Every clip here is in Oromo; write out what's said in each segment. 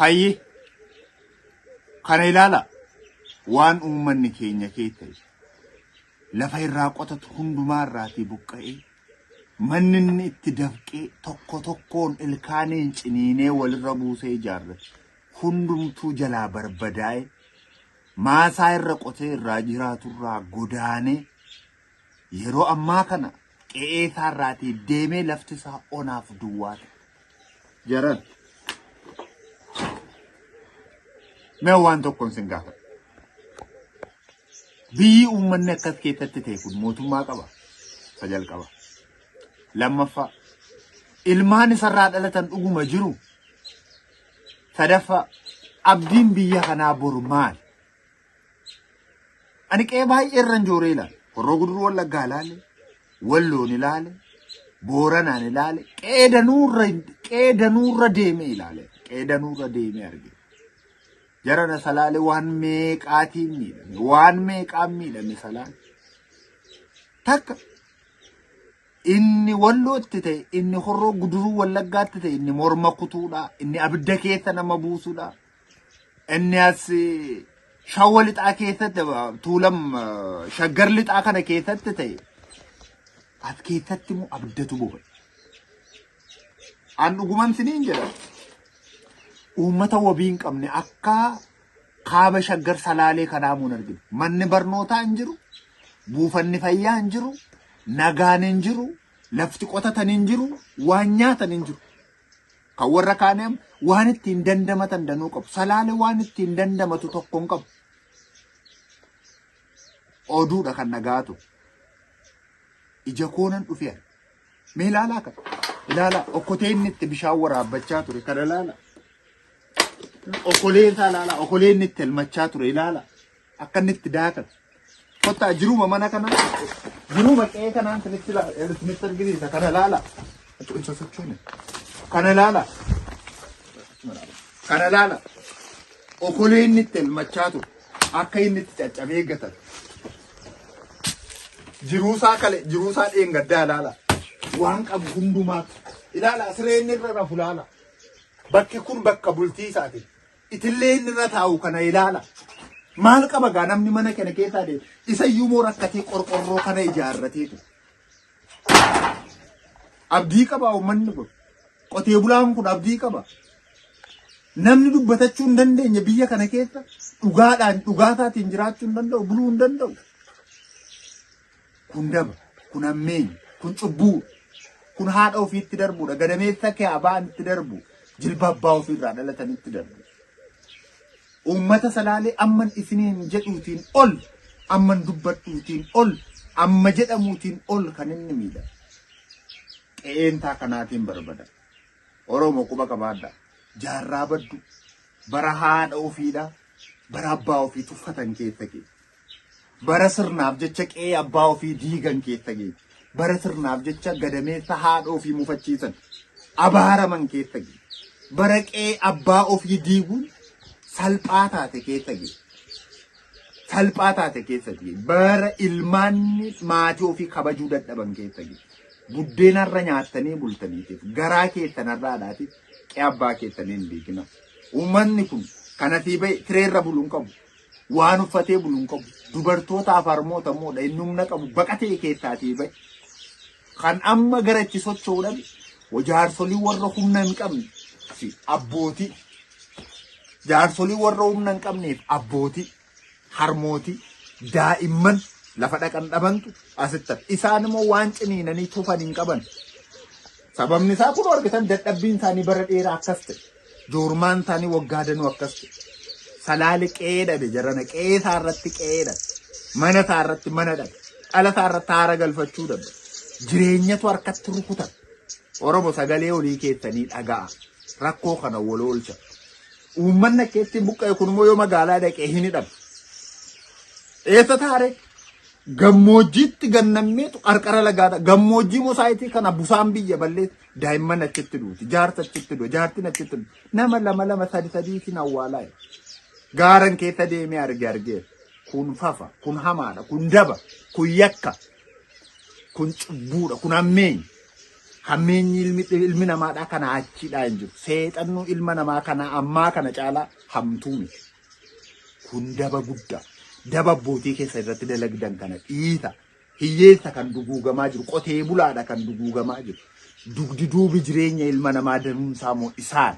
Hayyi kana ilaala waan uummanni keenya keessa lafa irraa qotatu hundumaa irraatii buqqa'ee manni inni itti dafqee tokko tokkoon ilkaaniin ciniinee walirra buusee ijaarrate hundumtuu jalaa barbadaa'e maasaa irra qotee irraa jiraaturraa godaanee Yeroo ammaa kana qe'ee isaa irraatii deemee lafti isaa onaaf duwwaa ta'e. Jaran. Mee waan tokkoon sin gaafadha. Biyyi uummanni akkas keessatti ta'e kun mootummaa qaba. Isa jalqaba. Lammaffaa. Ilmaan isarraa dhalatan dhuguma jiru. Sadaffaa. Abdiin biyya kanaa boru maali? Ani qe'ee baay'ee irra hin jooree ilaale. Horroo guduruu wallaggaa ilaale. Walloon ilaale. Booranaan ilaale. Qe'ee danuurra qe'ee danuurra deemee ilaale. Qe'ee danuurra deemee arge. Jarana salaale waan meeqaatiin miidhame. Waan meeqaan miidhame salaale. Takka inni wallootti ta'e, inni horroo guduruu wallaggaatti ta'e, inni morma kutuudha, inni abidda keessa nama buusuudha. Inni as shawwa lixaa keessatti tuulam shaggar lixaa kana keessatti ta'e as keessatti immoo abdatu boba. An dhuguman siniin jedha. Uummata wabii hin qabne akka kaaba shaggar salaalee kanaa muun argina. Manni barnootaa hin jiru, buufanni fayyaa hin jiru, nagaan hin jiru, lafti qotatan hin jiru, waan nyaatan hin jiru. Kan warra kaanii amma waan ittiin dandamatan danuu qabu. Salaale waan ittiin dandamatu tokko hin qabu. Oduudha kan nagaa ture. Ija koonan dhufee arge. Mee ilaalaa kan. Ilaalaa okkotee inni itti bishaan waraabbachaa ture kan ilaalaa. Okolee isaa ilaalaa. Okolee inni itti elmachaa ture ilaalaa. Akka inni itti daakan. Kottaa jiruma mana kana jiruma qe'ee kanaan isinitti laala isinitti argisiisa kana laala. Osoo hin sosochoone. Kana laala. Kana laala. Okolee inni itti elmachaa ture akka inni itti caccabee gatan. Jiruusaa kale jiruusaa dheengaddaa laala. Waan qabu hundumaa ilaala siree inni irra rafu laala. Bakki kun bakka bultii isaati. Itillee inni irra taa'u kana ilaala. Maal qaba gaa namni mana kana keessaa deemu? Isa iyyuu moo rakkatee qorqorroo kana ijaarratee. Abdii qaba uummanni kun. Qotee bulaan kun abdii qaba. Namni dubbatachuu hin dandeenye biyya kana keessa dhugaadhaan dhugaa isaatiin jiraachuu hin danda'u, buluu hin danda'u. Kun daba, kun hammeenya, kun cubbuu, kun haadha ofiitti darbudha. Gadameessa kee abaan itti darbu, jilba abbaa ofiirraa dhalatan itti darbu. Uummata salaalee amman isiniin jedhuutiin ol, amman dubbadhuutiin ol, amma jedhamuutiin ol kan inni miidha. Qe'eentaa kanaatiin barbada. Oromoo quba qabaadha. Jaarraa baddu. Bara haadha ofiidha. Bara abbaa ofii tuffatan keessa keessa. Bara sirnaaf jecha qe'ee abbaa ofii diigan keessa ga'e. Bara sirnaaf jecha gadameessa haadha ofii mufachiisan. Abaaraman keessa ga'e. Bara qe'ee abbaa ofii diiguun salphaa taate keessa ga'e. Salphaa taate keessa ga'e. Bara ilmaanni maatii ofii kabajuu dadhaban keessa ga'e. Buddeena irra nyaattanii bultaniitiif garaa keessan irra haadhaatiif qe'ee abbaa keessanii hin diigina. Uummanni kun kanafii ba'e tireerra buluun qabu. Waan uffatee bulu hin qabu. Dubartootaaf harmoota immoo dha. Inni humna qabu baqatee keessaatii ba'e. Kan amma gara itti socho'u dhabe jaarsolii warra humna hin qabne fi abbootii. Jaarsolii warra humna hin qabneef abbootii, harmootii, daa'imman lafa dhaqan dhabantu asitti hafe. Isaan immoo waan ciniinanii tufan hin qaban. Sababni isaa kun argitan dadhabbiin isaanii bara dheeraa akkas ta'e. Joormaan isaanii waggaa danuu akkas ta'e. Salaale qe'ee dhabe jarana qe'ee isaa irratti qe'ee dhabe. Mana isaa irratti mana dhabe. Dhala isaa irratti haara galfachuu dhabe. Jireenyatu harkatti rukutan. Oromo sagalee olii keessanii dhaga'a. Rakkoo kana wal oolcha. Uummanni akka ittiin buqqa'e kun immoo yoo magaalaa dhaqee hin hidhamu. Eessa taare? Gammoojjiitti gannammeetu qarqara lagaadha. Gammoojjii mosaayitii kana busaan biyya balleessa. Daa'imman achitti duuti. Jaarsa achitti du'a. Jaartiin achitti du'a. Nama lama lama sadi sadii isin awwaalaa jedhe. Gaaran keessa deemee arge argee. Kun fafa, kun hamaadha, kun daba, kun yakka, kun cubbuudha, kun hammeenya. Hammeenyi ilmi, ilmi namaadhaa kana achiidhaa hin jiru. Seexannuu ilma namaa kana ammaa kana caalaa hamtuu miti. Kun daba guddaa. Daba abbootii keessa irratti dalagdan kana dhiisa. Hiyyeessa kan duguugamaa jiru, qotee bulaadha kan duguugamaa jiru. Dugdi duubi jireenya ilma namaa danuunsaa moo isaan?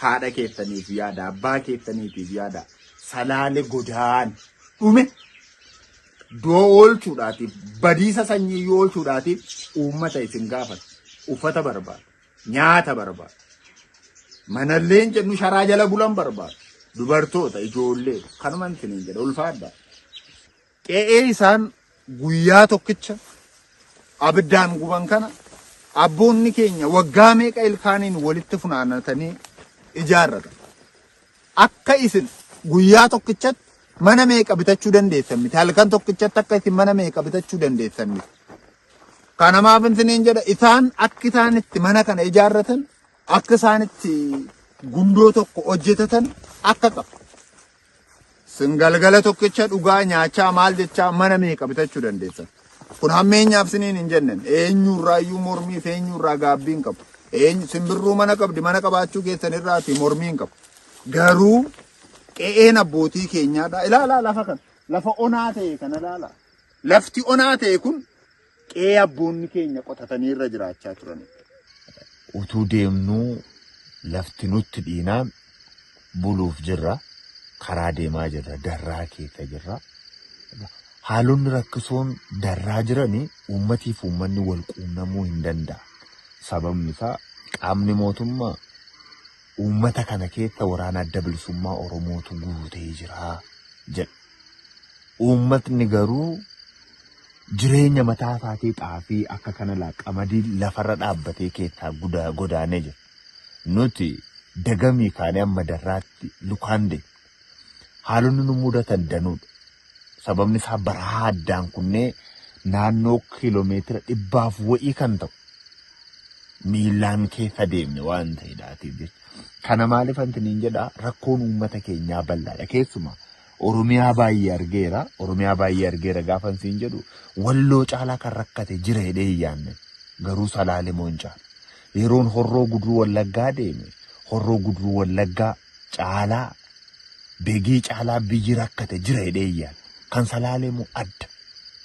Haadha keessaniif yaada, abbaa keessaniitiif yaada. Salaale godaan dhume doo oolchuudhaatiif badiisa sanyii yoo oolchuudhaatiif uummata isin gaafata. Uffata barbaada, nyaata barbaada. Manalleen jennu sharaa jala bulan barbaada. Dubartoota, ijoollee kanuma isiniin jedha ulfaadha. Qe'ee isaan guyyaa tokkicha abiddaan guban kana abboonni keenya waggaa meeqa ilkaaniin walitti funaanatanii ijaarratan. Akka isin guyyaa tokkichatti mana meeqa bitachuu dandeessan miti. Halkan tokkichatti akka isin mana meeqa bitachuu dandeessan miti. Kana maaf isiniin jedha isaan akka isaan itti mana kana ijaarratan akka isaan itti gundoo tokko hojjetatan akka qabu. Sin galgala tokkicha dhugaa nyaachaa maal jechaa mana meeqa bitachuu dandeessan. Kun hammeenyaaf siniin hin jennen. Eenyurraa iyyuu mormii fi eenyurraa gaabbii hin qabu. Eenyu simbirruu mana qabdi mana qabaachuu keessan irraati mormii hin qabu. Garuu qe'een abbootii keenyaadha. Ilaalaa lafa kana. Lafa onaa ta'e kana ilaalaa. Lafti onaa ta'e kun qe'ee abboonni keenya qotatanii irra jiraachaa turanidha. utuu deemnuu lafti nutti dhiinaan buluuf jirra. Karaa deemaa jirra. Darraa keessa jirra. Haalonni rakkisoon darraa jiranii uummatii fi uummanni wal quunnamuu hin danda'a. Sababni isaa qaamni mootummaa uummata kana keessa waraana adda bilisummaa Oromootu guutee jira jedha. Uummatni garuu jireenya mataa isaatii xaafii akka kana laa qamadii lafarra dhaabbatee keessaa gudaa godaanee jira. Nuti dagamii kaanee amma darraatti lukaan deemna. Haalonni nu mudatan danuudha. Sababni isaa barahaa addaan kunnee naannoo kiiloomeetira dhibbaaf wa'ii kan ta'u miillaan keessa deemne waan ta'eedhaatiif jecha. Kana maaliif anti niin jedha rakkoon uummata keenyaa bal'aadha keessumaa Oromiyaa baay'ee argeera Oromiyaa baay'ee argeera gaafan siin jedhu walloo caalaa kan rakkate jira jedhee hin yaadne garuu salaalee moo hin caalu. Yeroon horroo guduruu wallaggaa deeme horroo guduruu wallaggaa caalaa Begii caalaa biyyi rakkate jira jedhee iyyaan kan salaalee moo adda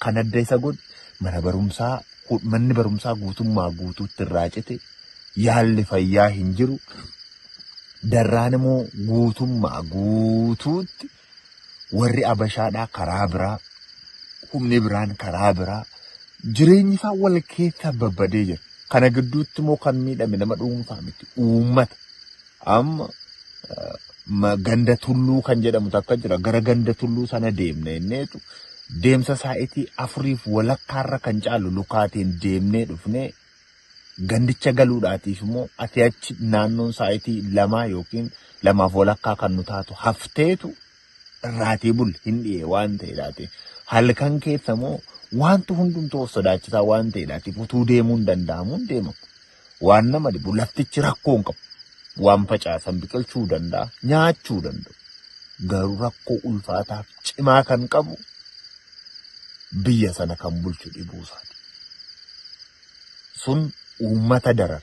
kan adda isa godhu mana barumsaa hu- manni barumsaa guutummaa guutuutti irraa cite yaalli fayyaa hin jiru darraan immoo guutummaa guutuutti warri abashaadhaa karaa biraa humni biraan karaa biraa jireenyi isaa wal keessa babbadee jira kana gidduutti immoo kan miidhame nama dhuunfaa miti uummata Amma eh, ma- ganda tulluu kan jedhamu takka jira. Gara ganda tulluu sana deemne inneetu deemsa saa'itii afuriif walakkaarra kan caalu lukaatiin deemnee dhufnee gandicha galuudhaatiif immoo ati achi naannoon saa'itii lamaa yookiin lamaaf walakkaa kan nu taatu hafteetu irraatii bul hin dhi'e waan ta'eedhaati. Halkan keessa immoo wanti hundumtuu of sodaachisaa waan ta'eedhaatiif utuu deemuun danda'amuun deemamu. Waan nama dhibu laftichi rakkoo hin qabu. Waan facaasan biqilchuu danda'a, nyaachuu danda'u. Garuu rakkoo ulfaataaf cimaa kan qabu biyya sana kan bulchu dhibuu isaati. Sun uummata darara.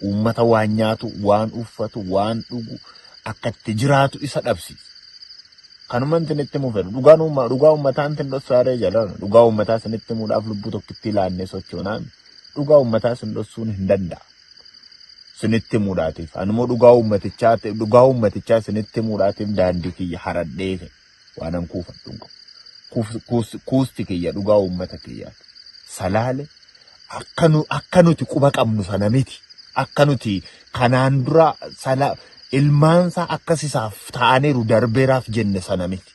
Uummata waan nyaatu, waan uffatu, waan dhugu akka itti jiraatu isa dhabsiisa. Kanuma intin itti mufeera. Dhugaan uumma- dhugaa uummataa intin dhossaaree jalaan dhugaa uummataa isinitti muudhaaf lubbuu tokkitti laannee sochoonaa miti. dhugaa uummataa sin dhossuun hin danda'a. Sinitti muudhaatiif. Animmoo dhugaa uummatichaa dhugaa uummatichaa sinitti muudhaatiif daandii kiyya haradhee fe waanan kuufadhu hin qabu. Kuuf- kuus- Kuusti kiyya dhugaa uummata kiyyaati. Salaale akka nu- akka nuti quba qabnu sana miti. Akka nuti kanaan dura sala ilmaansaa akkas isaaf ta'aniiru darbeeraaf jenne sana miti.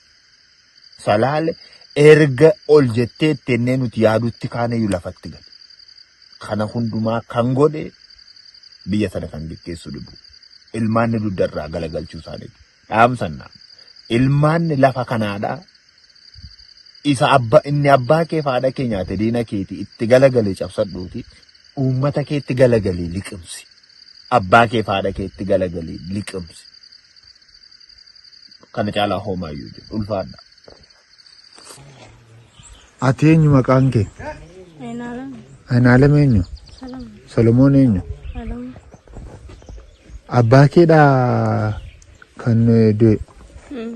Salaale erga ol jettee ittennee nuti yaadutti kaanayyuu lafatti gale. Kana hundumaa kan godhe biyya sana kan geggeessu dhibu. Ilmaanni dugda irraa galagalchuu isaaniiti. Dhaamsannaa. Ilmaanni lafa kanaadhaa isa abba inni abbaa kee faadha kee nyaate diina keeti itti galagalee cabsadhuuti uummata keetti galagalee liqimsi abbaa kee faadha keetti galagalee liqimsi kana caalaa hoomaa iyyuu jiru ulfaadha. Ati eenyu maqaan kee? Enaalam. Anaalem eenyu? Salam. Solomoon eenyu? Alam. Abbaa keedhaa kan eh, du'e. Mm.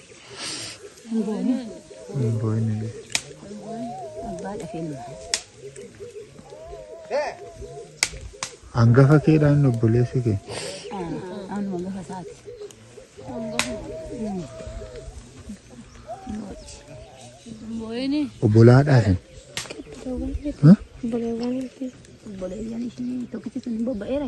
Hangafa keedhaa inni obboleessi kee. Obbolaadhaaf hin. Obboleewwan. Obboleewwan ishii tokkichi sun bobba'eera.